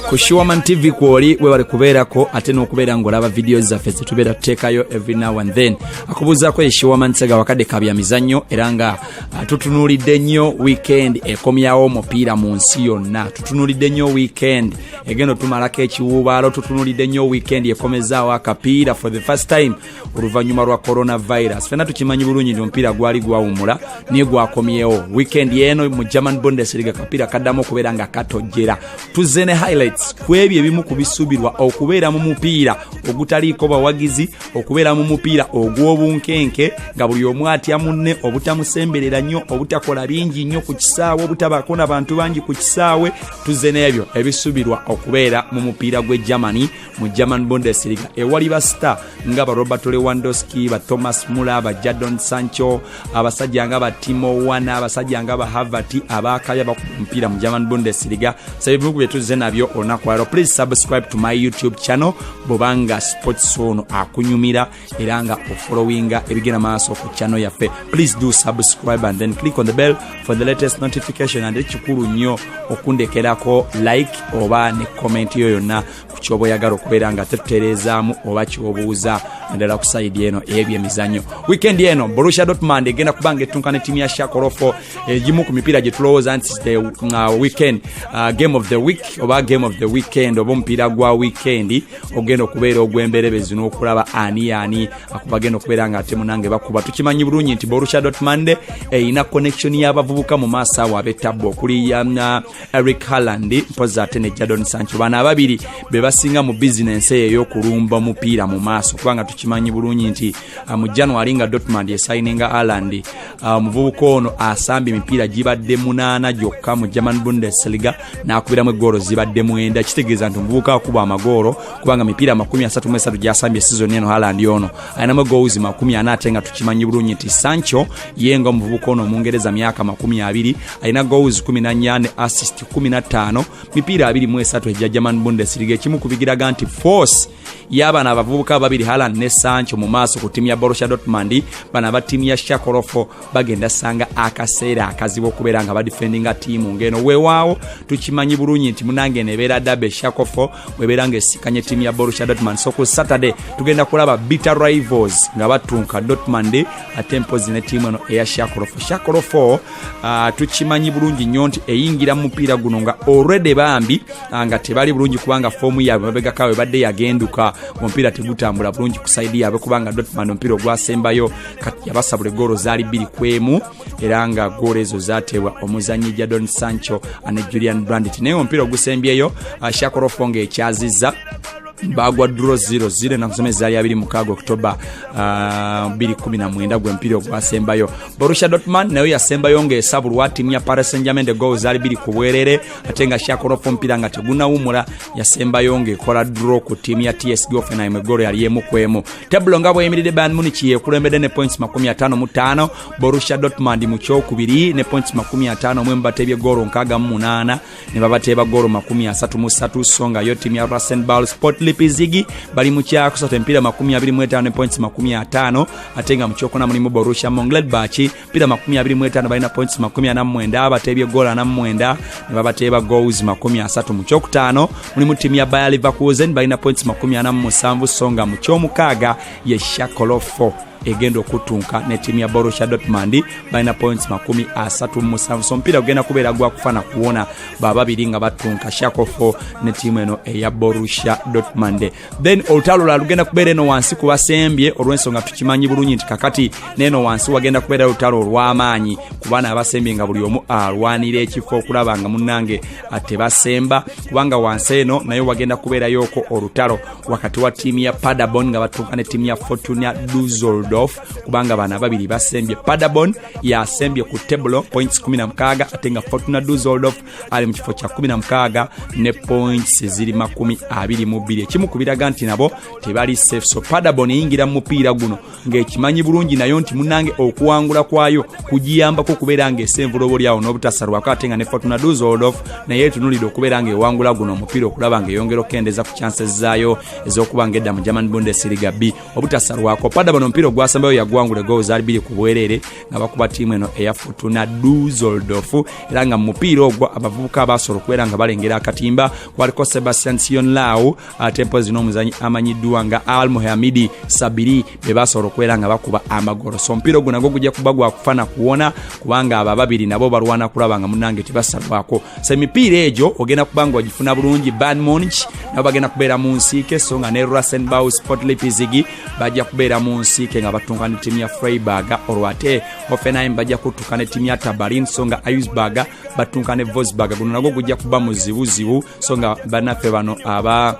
ku shuaman tv kwoli webale kubeerako ate n'okubeera ng'olaba vidiyo zaffe zetubeera tuteekayo every now and then akubuuzaako ye shuaman sega wakadde ka bya mizannyo era nga ah, tutunuulidde nnyo weekend ekomyawo omupiira mu nsi yonna tutunuulidde nnyo weekend egenda otumalako ekiwuubaalo tutunuulidde nnyo weekend ekomezaawo akapiira for the first time oluvannyuma lwa coronavirus fena tukimanyi bulungi nti omupiira gwali gwawumula naye gwakomyewo weekend eno mu german bundesliga kapiira kaddamu okubeera nga katojjera tuzze ne highlights ku ebyo ebimu ku bisuubirwa okubeera mu mupiira ogutaliiko bawagizi okubeera mu mupiira ogw'obunkenke nga buli omu atya munne obutamusemberera nnyo obutakola bingi nnyo ku kisaawe obutabaako na bantu bangi ku kisaawe tuzze n'ebyo ebisuubirwa okubeera mu mupiira gw'e germany mu german bundesliga ewali ba star nga ba robert lewandoski ba thomas mula ba jadon sancho abasajja nga ba timo wana abasajja nga ba havati abakabya bakumpira mu german bundesliga sabibiku byetuzze nabyo olunaku lero please subscribe to my youtube channel bobanga sports ono akunyumira era nga ofollowinga ebigenda maaso ku channel yaffe please do subscribe and then click on the bell for the latest notification and ekikulu nnyo okundekerako like oba ne comment yo yonna ku kyoba oyagala okubeera nga tetutereezaamu oba kyobuuza naddala ku saidi eno ebyo emizanyo weekend eno borussia dotmand egenda kuba nga ettunka ne tiimu ya shakorofo egimu eh, ku mipiira gye tulowooza nti the uh, weekend uh, game of the week oba game of the weekend oba omupiira gwa weekend ogenda okubeera ogwemberebezi n'okulaba ani ani akubagenda okubeera nga ate munange bakuba tukimanyi bulungi nti borusha dotmande erina connection y'abavubuka mu maaso awo abetabbu okuli yana uh, eric harland mpozi ate ne jadon sancho bano ababiri be basinga mu bizinensi eyo ey'okulumba omupiira mu maaso kubanga tukimanyi bulungi nti uh, mu january nga dotmand esayininga arland uh, omuvubuka ono asamba emipiira gibadde munaana gyokka mu german bundesliga n'akubiramu eggoolo zibadde mwenda kitegeeza nti omuvubuka akuba amagoolo kubanga mipiira amakumi asatu mu esatu gyasambye sizoni eno halandi ono alinamu egoozi makumi ana ate nga tukimanyi bulungi nti sancho ye nga omuvubuka ono omungereza myaka makumi abiri alina goozi kumi nanya ne assist kumi na ttaano mipiira abiri mu esatu egya german bundesliga ekimu kubigiraga nti force y'abana abavubuka ababiri halan ne sancho mu maaso ku ttiimu ya borussia dortmund bano aba ttiimu ya shakorofo bagenda sanga akaseera akazibu okubeera nga badifendinga ttiimu ng'eno weewaawo tukimanyi bulungi nti munange eno ebeera dabe shakofo webeera nga esikanye ttiimu ya borussia dortmund so ku saturday tugenda kulaba bitter rivals nga batunka dortmund ate mpozi ne ttiimu eno eya shakorofo shakorofo Ah, tukimanyi bulungi nnyo nti eyingira mu mupiira guno nga olredy bambi ah, nga tebali bulungi kubanga foomu yaabwe mabegaka we badde yagenduka omupiira tegutambula bulungi ku saidi yaabwe kubanga dotman omupiira ogwasembayo kati yabasabula egoolo zaali bbiri ku emu era nga goolo ezo zateebwa omuzanyi jadon sancho ne julian brandit naye omupiira ogusembyeyo ah, shakorofo nga ekyazizza bagwa dro 00 nakusoma ezaali abiri mukaaga oktoba 219 gwempiira ogwasembayo Borussia Dortmund nayo yasembayo ng'esabulwa ttiimu ya Paris Saint-Germain de goal zaali biri ku bwerere ate nga Shakhtarov omupiira nga tegunawumula yasembayo ng'ekola draw ku ttiimu ya TSG Hoffenheim eggoolo yali emu ku emu. Tebbulo nga bweyimiridde Bayern Munich yeekulembedde ne points makumi ataano mu ttaano Borussia Dortmund mu kyokubiri ne points makumi ataano mu emu bateebye ggoolo nkaaga mu munaana ne babateeba goolo makumi asatu mu ssatu so nga yo ttiimu ya rasenbal sport lipizigi bali mu kyakusatu empiira makumi abiri mu etaano ne points makumi ataano ate nga mu kyokuna mulimu borussia mongledbach mpiira makumi abiri mu etaano balina points makumi ana mu mwenda abateebye goolo ana mu mwenda ne babateeba goals makumi asatu mu kyokutaano mulimu ttiimu ya baya liverkusen balina points makumi ana mu musanvu so nga mu kyomukaaga ye shakolofo egenda okuttunka ne ttiimu ya borussia dortmund balina points makumi asatu mu musanvu so omupiira gugenda kubeera gwakufa na kuwona bababiri nga battunka shakofo ne ttiimu eno eya borussia dortmund then olutalo lula lugenda kubeera eno wansi ku basembye olw'ensonga tukimanyi bulungi nti kakati neeno wansi wagenda kubeera olutalo olw'amaanyi kubaana abasembye nga buli omu alwanira ekifo okulaba nga munnange tebasemba kubanga wansi eno naye wagenda kubeerayoko olutalo wakati wa ttiimu ya padabon nga batuuka ne ttiimu ya fortuna duzoldorf kubanga bano ababiri basembye padabon yasembye ku tebulo points 16 ate nga fortuna duzoldorf ali mu kifo kya 16 ne points ziri makumi 22 ekimu ku biraga nti nabo tebali safe so padabon eyingira mu mupiira guno ng'ekimanyi bulungi nayo nti munange okuwangula kwayo kugiyambako okubeera ng'esa envulobo lyawo n'obutasalwako ate nga ne fatuna duzoldof naye etunulidde okubeera ng'ewangula guno omupiira okulaba ng'eyongera okukendeza ku chances zaayo ez'okuba ng'edda mu german bundesliga b obutasalwako pada bano omupiira ogwasembayo yaguwangula egoowo zaali biri ku bwereere nga bakuba tiimu eno eya fatuna duzoldof era nga mu mupiira ogwo abavubuka abaasobola okubeera nga balengera akatimba kwaliko sebastian sion law ate mpozi n'omuzanyi amanyiddwa nga al muhamidi sabiri be basobola okubeera nga bakuba amagolo so omupiira ogwo nagwo gujja kuba gwakufa na kuwona kubanga abo ababiri nabo balwana kulaba nga munange tebasalwako so emipiira egyo ogenda kuba nga wagifuna bulungi banmonch nabo bagenda kubeera mu nsiike so nga ne rusenbow sportlipizigi bajja kubeera mu nsiike nga batunka ne tiimu ya freiburg olwo ate hoffenheim bajja kutuka ne tiimu ya tabarin so nga iusburg batunka ne vosburg guno nagwo gujja kuba muzibuzibu so nga bannaffe bano aba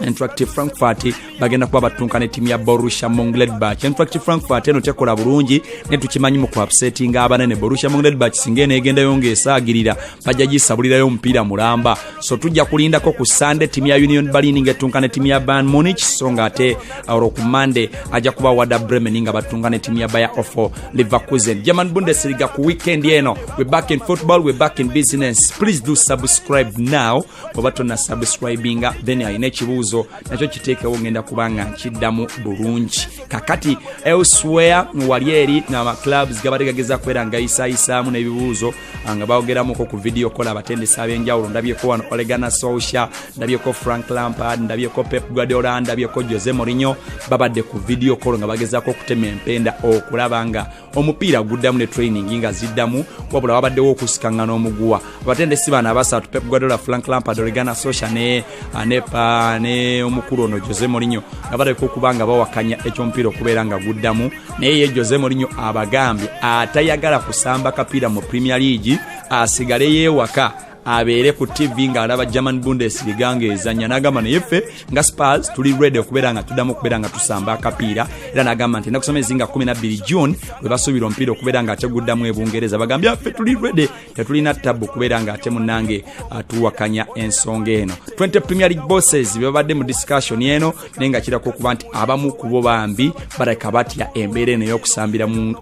interactive frankfurt bagenda kuba battunka ne tiimu ya borussia mongledbach interactive frankfurt eno tekola bulungi ne tukimanyi mu kuapsetinga abanene borussia mongledbach singa eno egendayo ngaesaagirira bajja gisabulirayo omupiira mulamba so tujja kulindako ku sande tiimu ya union balini nga ettunka ne tiimu ya ban munich so nga ate olwo ku mande ajja kuba wada bremen nga battunka ne tiimu ya baya offo Leverkusen, German Bundesliga ku weekend eno. We back in football, we back in business. Please do subscribe now. Oba tonna subscribinga then alina ekibuuzo nakyo kiteekewo ngenda kubanga nkiddamu bulungi. Kakati elsewhere wali eri na clubs gabadde gageza kwera nga isayisaamu n'ebibuuzo nga bawogeramuko ku vidiyo kola abatendesi ab'enjawulo ndabyeko wano olegana socia ndabyeko frank lampard ndabyeko pep guardiola ndabyeko jose morinyo babadde ku vidiyo kolo nga bagezaako okutema empenda okulaba nga omupiira guddamu ne training nga ziddamu wabula wabaddewo okusikangana omuguwa abatendesi bano abasatu pep guardiola frank lampard olegana socia ne anepa ne omukulu ono jose morinyo nga baleka okuba nga bawakanya ekyomupiira okubeera nga guddamu naye ye jose morinyo abagambye atayagala kusamba kapiira mu premier league asigale yewaka abeere ku tv ng'alaba german bundesliga ng'ezanya n'agamba naye ffe nga spars tuli redi okubeera nga tuddamu okubeera nga tusamba akapiira era n'agamba nti enakusoma ezinga 12 june we basuubira omupiira okubeera ng'ateguddamu ebungereza bagambye ffe tuli redi tetulina tabu kubeera nga ate munange atuwakanya ensonga eno 20 premier league bosses bebabadde mu discussion eno naye nga kirako okuba nti abamu kubo bambi balabika batya embeera eno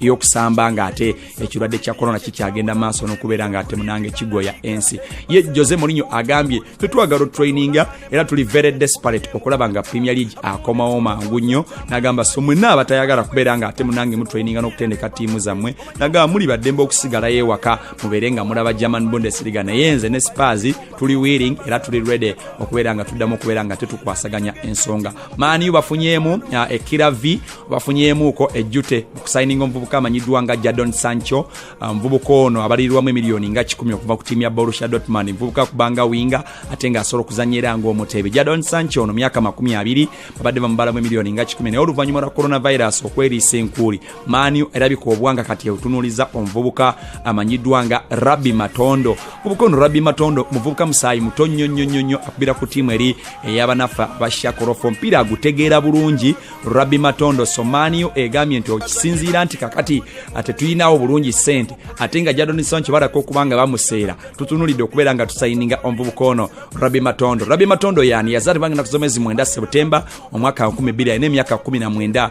eyokusamba nga ate ekirwadde kya korona kikyagenda maaso nokubeera nga ate munange kigoya ensi ye jose molinyo agambye tetwagala otraininga era tuli very desperate okulaba nga premier league akomawo mangu nnyo nagamba so mwena abatayagala kubeera nga ate munange mutraininga nokutendeka tiimu zammwe nagamba muli baddembe okusigalayo ewaka mubeere nga mulaba german bundesliga naye nze ne spars tuli willing era tuli ready okubeera nga tuddamu okubeera nga tetukwasaganya ensonga maaniyu bafunyeemu uh, ekira v bafunyeemuuko ejjute okusayininga omuvubuka amanyiddwa nga jadon sancho uh, omuvubuka um, ono abalirirwamu emiliyoni nga kikumi okuva ku tiimu ya borusha dotman muvubuka kubanga winga ate nga asobola okuzanya era ngaomuteebe jadon sancho ono myaka makumi abiri babadde bamubalamu emiliyoni nga kikumi naye oluvannyuma lwa coronavirus okweriisa enkuuli maaniyo erabika obwanga kati eutunuliza omuvubuka amanyiddwa nga rabbi matondo muvubuka ono rabbi matondo muvubuka musaayi muto nnyo nnyo nnyo nnyo akubira ku tiimu eri eyabanaffe abashakorofo omupiira agutegeera bulungi rabbi matondo so maaniyo egambye nti okisinziira nti kakati tetuyinawo bulungi ssente ate nga jadonisawo nkibalako okuba nga bamuseera tutunulidde okubeera nga tusayininga omuvubuka ono rabbi matondo rabbi matondo yani yazaalibwa nga naku zomwezi mwenda sebutemba omwaka 2 4 emyaka 19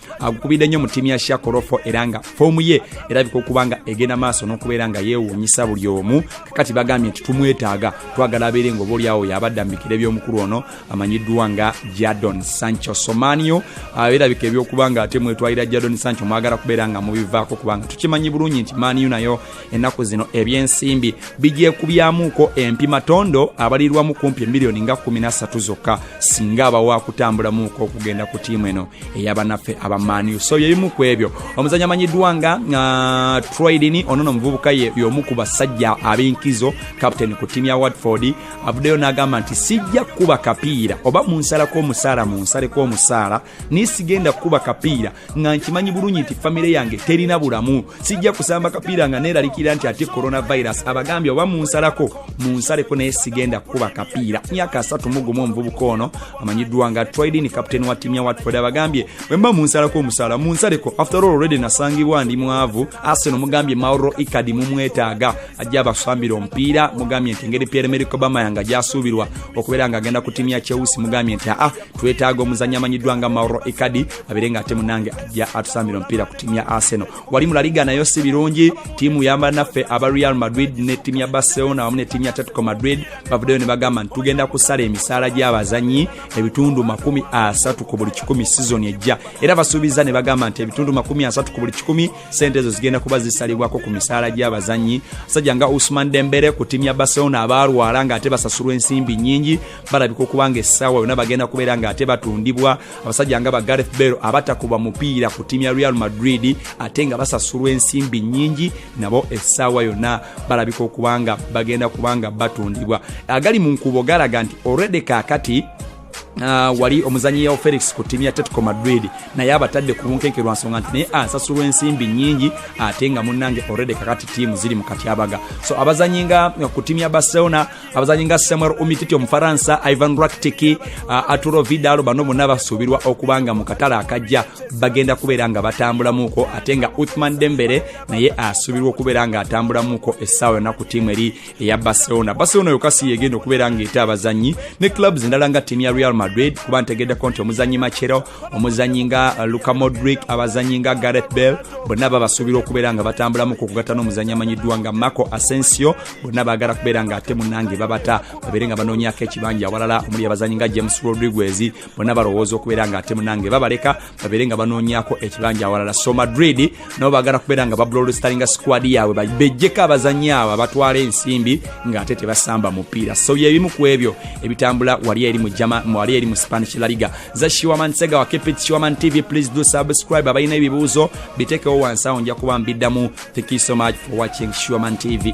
agukubidde nnyo mu ttiimu ya shakorofo era nga foomu ye erabika okuba nga egenda maaso n'okubeera nga yeewuunyisa buli omu kakati bagambye nti tumwetaaga twagala abeere nga obaolyawo yabadda mu bikira eby'omukulu ono amanyiddwa nga jadon sancho somanio ah, erabika ebyokuba nga ate mwetwalira jadon sancho mwagala kubeera nga mubivaako kubanga tukimanyi bulungi nti maniu nayo ennaku zino ebyensimbi bigyekubyamuuko empimatondo abalirwamu kumpi emiliyoni nga 13 zokka singa abawa kutambulamuuko okugenda ku tiimu eno eyabanaffe abamaniu so byebimu ku ebyo omuzanyi amanyiddwa nga uh, troidini ono no omuvubuka yomu ku basajja ab'enkizo captain ku tiimu ya watford avuddeyo n'agamba nti sijja kukuba kapiira oba munsalako omusaala munsaleko omusaala naye sigenda kukuba kapiira nga nkimanyi bulungi nti famire yange terina bulamu sijja kusamba kapiira nga neeralikira nti ate coronavirus abagambye oba munsalako munsaleko naye sigenda kukuba kapiira myaka asatu mugumu omuvubuka ono amanyiddwa nga tridin captain wa tiimu ya watford abagambye bwemba munsalako omusaala munsaleko after all already nasangibwa ndi mwavu aseno mugambye mauro ikadi mumwetaaga ajja abasambira omupiira mugambye nti engeri pierre mericobama yanga gyasuubirwa okubeera nga agenda ku tiimu ya cheusi mugambye nti aa ah, twetaaga omuzanyi amanyiddwa nga mauro ikadi abeere nga ate munange ajja atusambira omupiira ku tiimu ya arsenal wali mulaliga nayo si birungi tiimu yamba naffe aba real madrid ne tiimu ya barcelona wamu ne tiimu ya tatico madrid bavuddeyo ne bagamba nti tugenda kusala emisaala gy'abazanyi ebitundu makumi asatu ku buli kikumi sizoni ejja era basuubiza ne bagamba nti ebitundu makumi asatu ku buli kikumi sente ezo zigenda kuba zisalibwako ku misaala gy'abazanyi sajja nga usman dembere ku tiimu ya barcelona abaalwala ng'ate basasulwa ensimbi nnyingi balabika okuba nga essaawa yona bagenda kubeera nga ate batundibwa abasajja nga ba gareth bell abatakuba mupiira ku tiimu ya real madrid ate nga basasulwa ensimbi nyingi nabo essaawa yona balabika okuba nga bagenda kuba nga batundibwa agali mu nkuubo galaga nti olredi kaakati Uh, wali omuzanyi yao felix ku tiimu ya tetco madrid naye abatadde ku bunkenke lwa nsonga nti naye asasulwa ensimbi nyingi ate nga munnange olredi kakati tiimu ziri mu katyabaga so abazanyi nga ku tiimu ya barcelona abazanyi nga samuel umititi omufaransa ivan raktiki uh, aturo vidalo bano bonna basuubirwa okuba nga mu katale akajja bagenda kubeera nga batambulamuuko ate nga uthman dembere naye asuubirwa okubeera nga atambulamuuko essaawa yonna ku tiimu eri eya barcelona barcelona yokasi yegenda okubeera ngaeta abazanyi ne clubs endala nga tiimu ya real madrid kuba ntegeddeko nti omuzanyi macero omuzanyi nga uh, luka modric abazanyi nga gareth bell bonna babasuubira okubeera nga batambulamu ku kugatta n'omuzanyi amanyiddwa nga marco asensio bonna baagala kubeera nga ate munange babata babeere nga banoonyako ekibanja awalala omuli abazanyi nga james rodriguez bonna balowooza okubeera nga ate munange babaleka babeere nga banoonyako ekibanja awalala so madrid nabo bagala kubeera nga bablolestalinga squad yaabwe bejjeko abazanyi abo abatwala ensimbi ng'ate tebasamba mupiira so byebimu ku ebyo ebitambula wali eri wali eri mu spanish laliga za shiwaman sega wa kepit shiwaman tv please do subscribe abalina ebibuuzo bitekewo wansi awo nja kuba mbiddamu thank you so much for watching shiwaman tv